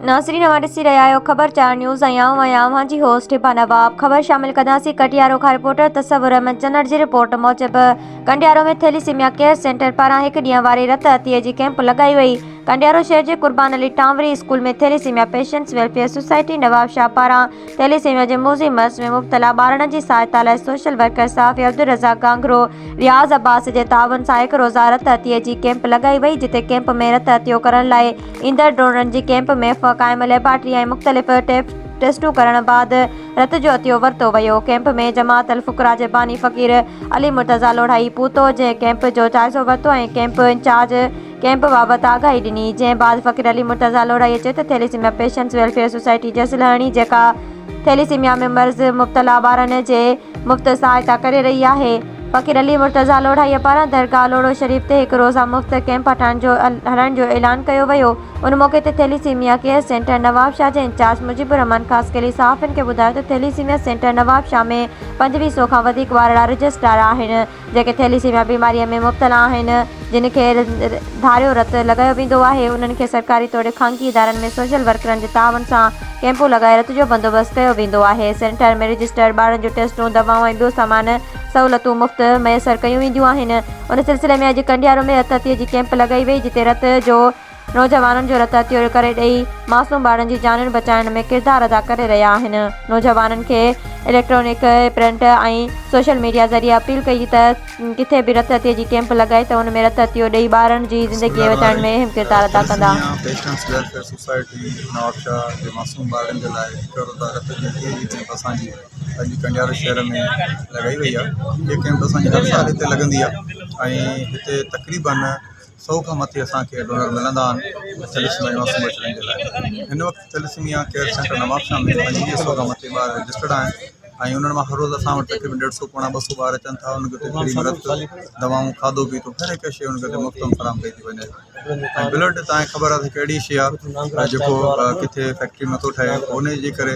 ناظرين اوهان ڏسي رهيا آهيو خبر چار نيوز ۽ آئون آهيان اوهان جي هوسٽ هبا نواب خبر شامل ڪنداسين ڪٽيارو کان رپورٽر تصور احمد چنڙ جي رپورٽ موجب ڪنڊيارو ۾ ٿيليسيميا ڪيئر سينٽر پاران هڪ ڏينهن واري رت عطيي جي ڪيمپ لڳائي وئي ڪنڊيارو شهر جي Qurban Ali Tanwari school ۾ thalassemia patients welfare society Nawab Shah پاران ٿيليسيميا جي موذي مرض ۾ مبتلا ٻارڙن جي سهائتا لاء سوشل ورڪر صحافي عبدالرزاق گانگرو رياض عباسي جي تعاون سان هڪ روزه رت عطيي جي ڪيمپ لڳائي وئي جتي ڪيمپ ۾ رت عطيو ڪرڻ لاء ايندڙ ڊونرن جي ڪيمپ ۾ قائم ليبارٽري ۽ مختلف ٽيسٽون ڪرڻ بعد رت جو عطيو ورتو ويو ڪيمپ ۾ جماعت الفقراء جي باني فقير علي مرتضيٰ لوڙهائي پهتو جنهن ڪيمپ جو جائزو ورتو ۽ ڪيمپ انچارج ڪئمپ بابت آگاهي ڏني، جنهن بعد فقير علي مرتضيٰ لوڙهائي چيو ته ٿيليسيميا پيشنٽس ويلفيئر سوسائٽي جس لهڻي جيڪا ٿيليسيميا ۾ مرض مبتلا ٻارن جي مفت سهائتا ڪري رهي آهي، فقير علي مرتضيٰ لوڙهائي پاران درگاهه لوڙهو شريف تي هڪ روزه مفت ڪئمپ هٽائڻ جو هلائڻ جو اعلان ڪيو ويو، ان موقعي تي ٿيليسيميا ڪيئر سينٽر نوابشاهه جي انچارج مجيب الرحمان خاصخيلي صحافين کي ٻڌايو ته ٿيليسيميا سينٽر نوابشاهه ۾ پنجويهه سؤ کان وڌيڪ ٻارڙا رجسٽرار آهن، جيڪي ٿيليسيميا بيماريء ۾ مبتلا آهن، جن کي ڌاريو رت لڳايو ويندو آهي، انهن کي سرڪاري توڙي خانگي ادارن ۾ سوشل ورڪرن جي تعاون سان ڪئمپون لڳائي رت جو بندوبست ڪيو ويندو آهي. سينٽر ۾ رجسٽرڊ ٻارن جون ٽيسٽون، دوائون ۽ ٻيو سامان سهولتون مفت ميسر ڪيون وينديون آهن. ان سلسلي ۾ اڄ ڪنڊيارو ۾ رت عطيي جي ڪئمپ لڳائي وئي، جتي رت جو. نوجوانن جو رت عطيو ڪري ڏئي معصوم ٻارن جي جانيون بچائڻ ۾ ڪردار ادا ڪري رهيا آهن نوجوانن کي اليڪٽرانڪ پرنٽ ۽ سوشل ميڊيا ذريعي اپيل ڪئي ته ڪٿي به رت عطيي جي ڪيمپ لڳائي ته ان ۾ رت عطيو ڏئي ٻارن جي زندگي بچائڻ ۾ اهم ڪردار ادا ڪندا. پيشنس ويلفيئر سوسائٽي نوابشاهه جي معصوم ٻارن جي لاء هڪ روزه رت جي عطيي جي ڪيمپ اسان جي اڄ ڪنڊيارو شهر ۾ لڳائي وئي آهي هي ڪيمپ اسان جي هر سال هتي لڳندي آهي ۽ هتي تقريبن سؤ کان مٿي اسان کي ڊونر ملندا آهن ٿيليسميا انوسموئيٽ رنگ جي لاء هن وقت ٿيليسميا ڪيئر سينٽر نوابشاهه ۾ پنجويهه سؤ کان مٿي ٻار رجسٽرڊ آهن ۽ انهن مان هر روز اسان وٽ تقريبن ڏيڍ سؤ پوڻا ٻه سؤ ٻار اچن ٿا انهن کي اتي فري ۾ رت دوائون کاڌو پيتو هر هڪ شيء انهن کي اتي مفت ۾ فراهم ڪئي ٿي وڃي ۽ بلڊ تان خبر آهي ته هڪ اهڙي شيء آهي جيڪو ڪٿي فيڪٽري ۾ نٿو ٺهي ان جي ڪري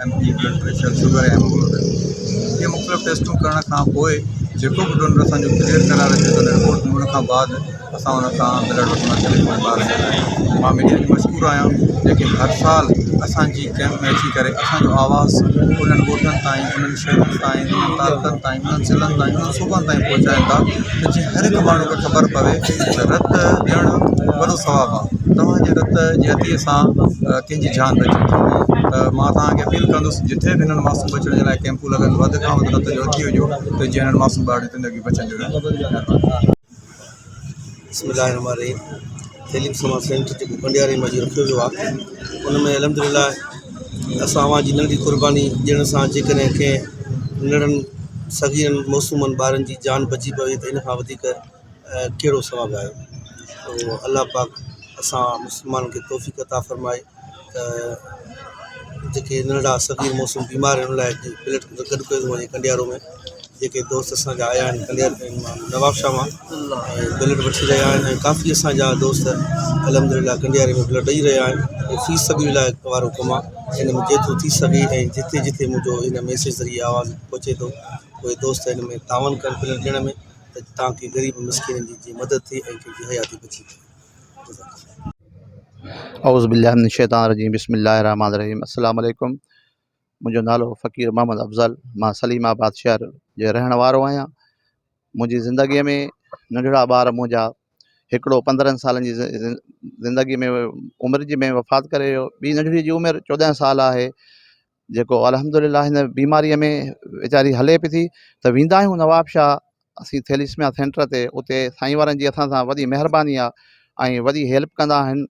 M P blood pressure sugar ۽ haemoglobin جي مختلف ٽيسٽون ڪرڻ کان پوء جيڪو به ڊونر اسان جو ڪليئر قرار اچي ٿو رپورٽ ملڻ کان بعد اسان ان سان بلڊ وٺڻ لاء چلي پوندو آھيون مان ميڊيا جي مشڪور آھيان جيڪي ھر سال اسانجي ڪيمپ ۾ اچي ڪري اسانجو آواز انھن ڳوٺن تائين انھن شھرن تائين انھن تعلقن تائين انھن ضلعن تائين انھن صوبن تائين پھچائين ٿا ته جيئن ھر ھڪ ماڻھو کي خبر پوي ته رت ڏيڻ وڏو ثواب آھي توھان جي رت جي عطيي سان جي جان بچي ويندي آهي ته مان توهان کي اپيل ڪندس جتي به هنن ماسڪ بچڻ جي لاء ڪيمپون لڳن وڌ کان وڌ نتيجو اچي وڃو ته جيئن هنن ماسڪ ٻارڙين جي زندگي بچڻ جوڳي ٿي وڃي مهرباني بسم الله الرحمن الرحيم تعليم سماج سينٽر جيڪو ڪنڊياري ۾ اڄ رکيو ويو آهي ان ۾ الحمد لله اسان اوهان جي ننڍي قرباني ڏيڻ سان جيڪڏهن ڪنهن ننڍڙن صغيرن معصومن ٻارن جي جان بچي پوي ته ان کان وڌيڪ ڪهڙو ثواب آيو سو الله پاڪ اسان مسلمانن کي توفيق عطا فرمائي ته جيڪي ننڍڙا صغير موسم بيمار آهن ان لاء هڪ پليٽ گڏ ڪيو ٿو وڃي ڪنڊيارو ۾ جيڪي دوست اسانجا آيا آهن ڪنڊيارو ۾ مانا نوابشاهه مان ۽ بلڊ وٺي رهيا آهن ۽ ڪافي اسانجا دوست الحمدلله ڪنڊياري ۾ بلڊ ڏئي رهيا آهن ۽ في سبيل الله وارو ڪم آهي ان ۾ جيترو ٿي سگهي ۽ جتي جتي منهنجو هن ميسيج ذريعي آواز پهچي ٿو اهي دوست هن ۾ تعاون ڪن بلڊ ڏيڻ ۾ ته تان ڪي غريب مسڪينن جي جيئن مدد ٿئي ۽ ڪن جي حياتي بچي وڃي جزاڪ الله. اعوذبالله من الشيطان الرجيم بسم الله الرحمن الرحيم السلام عليڪم منهنجو نالو فقير محمد افضل مان سليم آباد شهر جو رهڻ وارو آهيان منهنجي زندگي ۾ ننڍڙا ٻار منهنجا هڪڙو پندرهن سالن جي زندگي ۾ عمر جي ۾ وفات ڪري ويو ٻي ننڍڙي جي عمر چوڏهن سال آهي جيڪو الحمد لله هن بيماريء ۾ ويچاري هلي به ٿي ته ويندا آهيون نوابشاهه اسين ٿيليسميا سينٽر تي اتي سائين وارن جي اسان سان وڏي مهرباني آهي ۽ وڏي هيلپ ڪندا آهن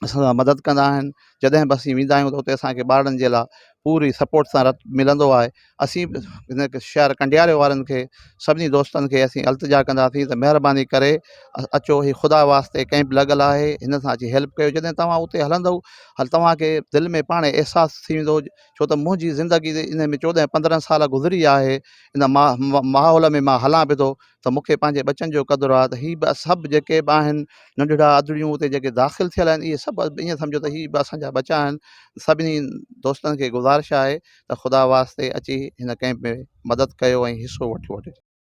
اسان سان مدد ڪندا آهن جڏهن به اسين ويندا آهيون ته اتي اسانکي ٻارڙن جي لاء پوري سپورٽ سان رت ملندو آهي اسين به هن شهر ڪنڊياري وارن کي سڀني دوستن کي اسين التجا ڪنداسين ته مهرباني ڪري اچو هي خدا واسطي ڪئمپ لڳل آهي هن سان اچي هيلپ ڪيو جڏهن تواهان اتي هلندؤ هل توهان کي دل ۾ پاڻهي احساس ٿي ويندو ڇو ته منهنجي زندگي جي ان ۾ چوڏهن پندرهن سال گذري ويا آهي ان ماحول ۾ مان هلان به ٿو ته مون کي پنهنجي ٻچن جو قدر آهي ته هي به سڀ جيڪي به آهن ننڍڙا ادڙيون اتي جيڪي داخل ٿيل آهن اهي سڀ ائين سمجهو ته هي به اسان جا ٻچا آهن سڀني دوستن کي گذارش آهي ته خدا واسطي اچي هن ڪئمپ ۾ مدد ڪيو ۽ حصو وٺو